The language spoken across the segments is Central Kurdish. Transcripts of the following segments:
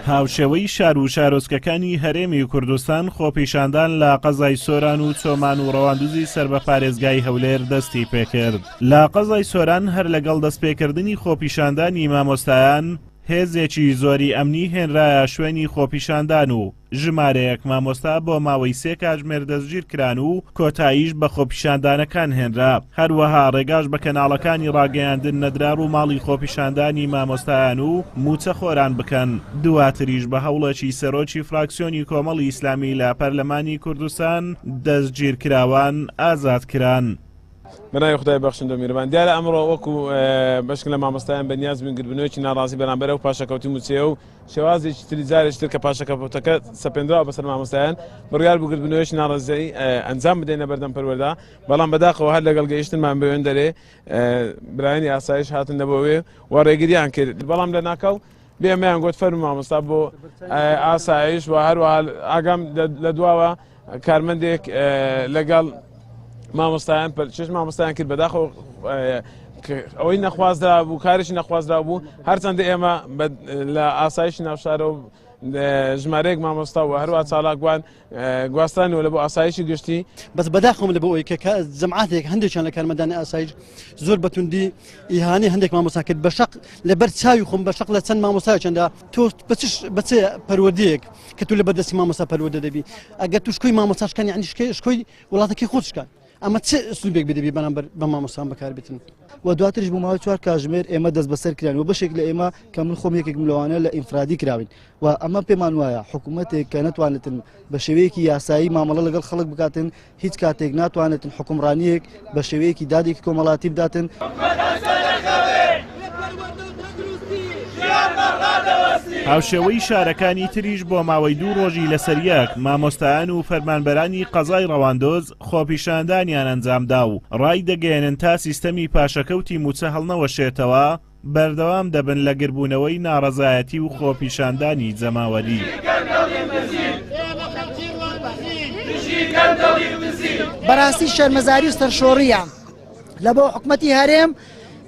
هاوشێوەی شار و شارۆچکەکانی هەرێمی کوردستان خۆپیشاندان لە قەزای سۆران و چۆمان و ڕەواندوزی سەر بە پارێزگای هەولێر دەستی پێکرد لە قەزای سۆران هەر لەگەڵ دەستپێکردنی خۆپیشاندانی مامۆستایان هێزێکی زۆری ئەمنی هێنرایە شوێنی خۆپیشاندان و ژمارەیەک مامۆستا بۆ ماوەی سێ کاتژمێر دەستگیرکران و کۆتاییش بە خۆپیشاندانەکان هێنرا، هەروەها ڕێگاش بە کەناڵەکانی ڕاگەیاندن نەدرا ڕووماڵی خۆپیشاندانی مامۆستایان و مووچەخۆران بکەن، دواتریش بە هەوڵێکی سەرۆکی فراکسیۆنی کۆمەڵی ئیسلامی لە پەرلەمانی کوردستان دەستگیرکراوان ئازاد کران. بە ناوی خودای بەخشندە و میرەبان، دیارە ئەمڕۆ وەکو بەشک لە مامۆستایان بەنیازبووین گردبنەوەیەکی ناڕازی بەرامبەر ئەو پاشەکەوتی مووچەیە و شێوازێکی تری جارێکی تر کە پاشەکە پوختەکە سەپێنراوە بەسەر مامۆستایان، بڕیار بوو گردبنەوەیەکی ناڕەزایی ئەنجام بدەینە بەردەم پەروەردە، بەڵام بەداخەوە هەر لەگەڵ گەیشتنمان بەوێن دەرێ برایانی ئاسایش هاتن نەبۆوێ و ڕێگریان کرد، بەڵام لە ناکاو بێمەیان گوت فەرموو مامۆستا بۆ ئاسایش و هەروەها ئاگام لە دواوە. کارمەندێک لەگەڵ مامۆستایان پەرچێش مامۆستایان کرد بەداخۆ ئەوەی نەخوازرا بوو کارێکی نەخوازرا بوو هەرچەندە ئێمە لە ئاسایشی ناوشارەوە ژمارەیەک مامۆستا و هەروە چالاکوان گواستانەوە لە بۆ ئاسایشی گشتی بەس بەداخم لە بۆ ئەوی کە جمعاتێک هەندێکیان لە کارمەدانی ئاسایش زۆر بەتوندی ئیهانی هەندێک مامۆسا کرد بە شق لەبەر چاوی خۆم بە شق لە چەند مامۆستا چەندە تۆ بە چ پەروەردەیەک کە تو لە بەدەستی مامۆستا پەروەدە دەبی ئەگە تو شکۆی مامۆساشکان یعنی شکێ شکۆی وڵاتەکەی خۆشکان ئەمە چ سوبێک بدەبی بەرامبەر بە مامۆستان بەکار بتن و دواترش بۆ ماوەی چوار کاژمێر ئێمە دەست بەسەر کران و بەشێک لە ئێمە کە من خۆم یەکێک ملوانە لە ئینفرادی کراوین و ئەمە پێمان وایە حکوومەتێک کە نتوانێتن بە شێوەیەکی یاسایی مامەڵە لەگەڵ خەڵک بکاتن هیچ کاتێک ناتوانێتن حوکمڕانییەک بە شێوەیەکی دادێکی کۆمەڵاتی بداتن. هاوشێوەی شارەکانی تریش بۆ ماوەی دوو ڕۆژی لەسەریەک مامۆستایان و فەرمانبەرانی قەزای ڕەواندۆز خۆپیشاندانیان ئەنجامدا و ڕای دەگەیەنن تا سیستەمی پاشەکەوتی مووچە هەڵنەوەشێتەوە بەردەوام دەبن لە گربوونەوەی ناڕەزایەتی و خۆپیشاندانی جەماوەری. بەراستی شەرمەزاری و سەرشۆڕیە لە بۆ حکومەتی هەرێم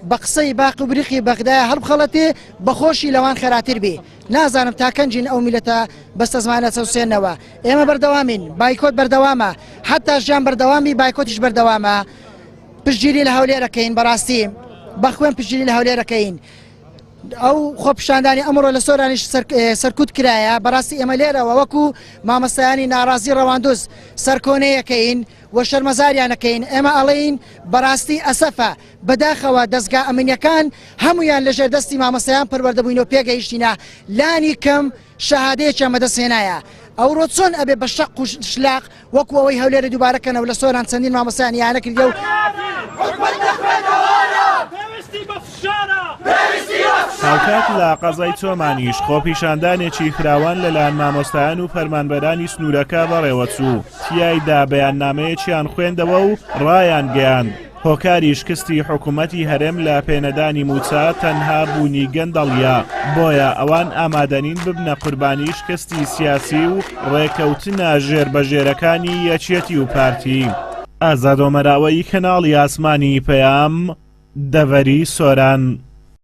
بە قسەی باق و بریقی بەغدا هەڵبخەڵەتێ بەخۆشی لەوان خەراتر بێ نازانم تاکەنجین ئەو میلەتە بەستە زمانە چەوسێنەوە ئێمە بەردەوامین بایکۆت بەردەوامە حتا ژیان بەردەوامی بایکۆتیش بەردەوامە پشتگیری لە هەولێرەکەین بەڕاستی بەخوێن پشتگیری لە هەولێرەکەین ئەو خۆپشاندانی ئەمڕۆ لە سۆرانیش سەرکوت کرایە بەڕاستی ئێمە لێرەوە وەکو مامەسایانی ناڕازی ڕەواندوز سەرکۆنەیەکەین و شەرمەزاریانەکەین ئێمە ئەڵین بەڕاستی ئەسەفە بەداخەوە دەستگا ئەمنیەکان هەمویان لەژێر دەستی مامەسەیان پەروەردەبووین و پێگەیشتینە لانی کەم شەهادەیەکیان بەدەست هێنایە ئەورۆ چۆن ئەبێ بە شەق و شلاق وەکو ئەوەی هەولێرە دووبارە کەنەوە لە سۆران چەندین مامۆستایان یانە کردیە و هاوکات لە قەزای چۆمانیش خۆپیشاندانێکی فراوان لەلایەن مامۆستایان و فەرمانبەرانی سنوورەکە بەڕێوەچوو تیایدا بەیاننامەیەکیان خوێندەوە و ڕایان گەیاند هۆکاری شکستی حکومەتی هەرێم لە پێنەدانی مووچە تەنها بوونی گەندەڵیە، بۆیە ئەوان ئامادەنین ببنە قوربانی شکستی سیاسی و ڕێکەوتنە ژێربەژێرەکانی یەکێتی و پارتی. ئازاد ئۆمەرئاوەیی کەناڵی ئاسمانی پەیام، دەڤەری سۆران.